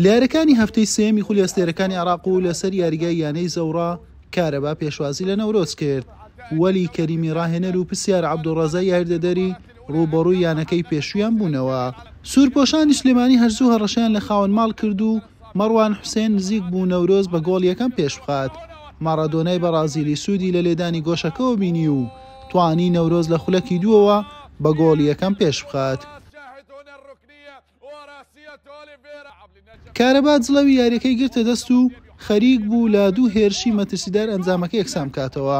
لەیارەکانی هەفتەی سێیەمی خولی ئەستێرەکانی عێراق و لەسەر یاریگای یانەی زەوڕا، کارەبا پێشوازی لە نەورۆز کرد، وەلی کەریمی راهێنەر و پسیار عەبدولڕەزای یاریدەدەری، رووبەڕووی یانەکەی پێشوویان بوونەوە. سوورپۆشانی سلێمانی هەرزوو هەڕەشەیان لە خاوەن ماڵ کرد و، مەڕوان حوسێن نزیک بوو نەورۆز بە گۆڵ یەکەم پێشبخات، مارادۆنای بەڕازیلی سوودی لە لێدانی گۆشەکەوە بینی و توانی نەورۆز لە خولەکی دووەوە بە گۆڵ یەکەم پێشبخات. کارەبا جڵەوی یارییەکەی گرتە دەست و خەریک بوو لە دوو هێرشی مەترسیدار ئەنجامەکە یەکسانبکاتەوە،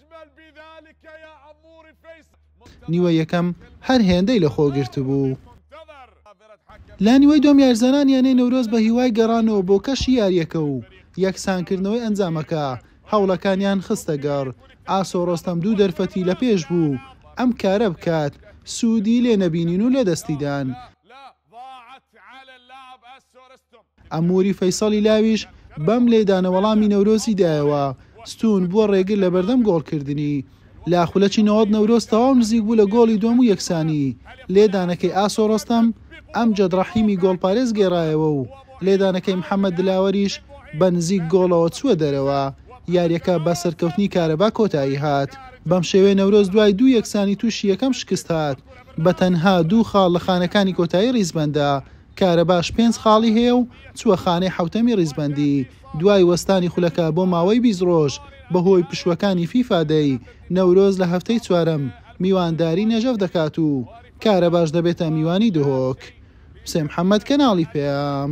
نیوە یەکەم هەر هێندەی لەخۆگرتبوو. لە نیوەی دووەم یاریزانان یانەی نەورۆز بە هیوای گەڕانەوە بۆ کەشی یارییەکە و یەکسانکردنەوەی ئەنجامەکە هەوڵەکانیان خستەگەڕ، ئاسۆ ڕۆستەم دوو دەرفەتی لەپێش بوو ئەم کارە بکات، سوودی لێ نەبینین و لەدەستیدان. عەموری فەیسەڵی لاویش بەم لێدانە وەڵامی نەورۆزی دایەوە، ستوون بووە ڕێگر لە بەردەم گۆڵکردنی. لە خولەکی نەوەد نەورۆز تەواو نزیک بوو لە گۆڵی دووەم و یەکسانی، لێدانەکەی ئاسۆ ڕۆستەم، ئەمجەد ڕەحیمی گۆڵپارێز گێڕایەوە و لێدانەکەی محەمەد دلاوەریش بە نزیک گۆڵەوە چووە دەرەوە، یارییەکە بە سەرکەوتنی کارەبا کۆتایی هات. بەمشێوەیە نەورۆز دوای دوو یەکسانی تووشی یەکەم شکست هات. بەتەنها دوو خاڵ لە خانەکانی کۆتایی ڕیزبەندە، کارەباش پێنج خاڵی هەیە و چووە خانەی حەوتەمی ڕیزبەندی، دوای وەستانی خولەکە بۆ ماوەی بیست ڕۆژ بەهۆی پشووەکانی فیفا دەی، نەورۆز لە هەفتەی چوارەم میوانداری نەژەف دەکات و کارەباش دەبێتە میوانی دهۆک. حوسێن محەمەد، کەناڵی پەیام.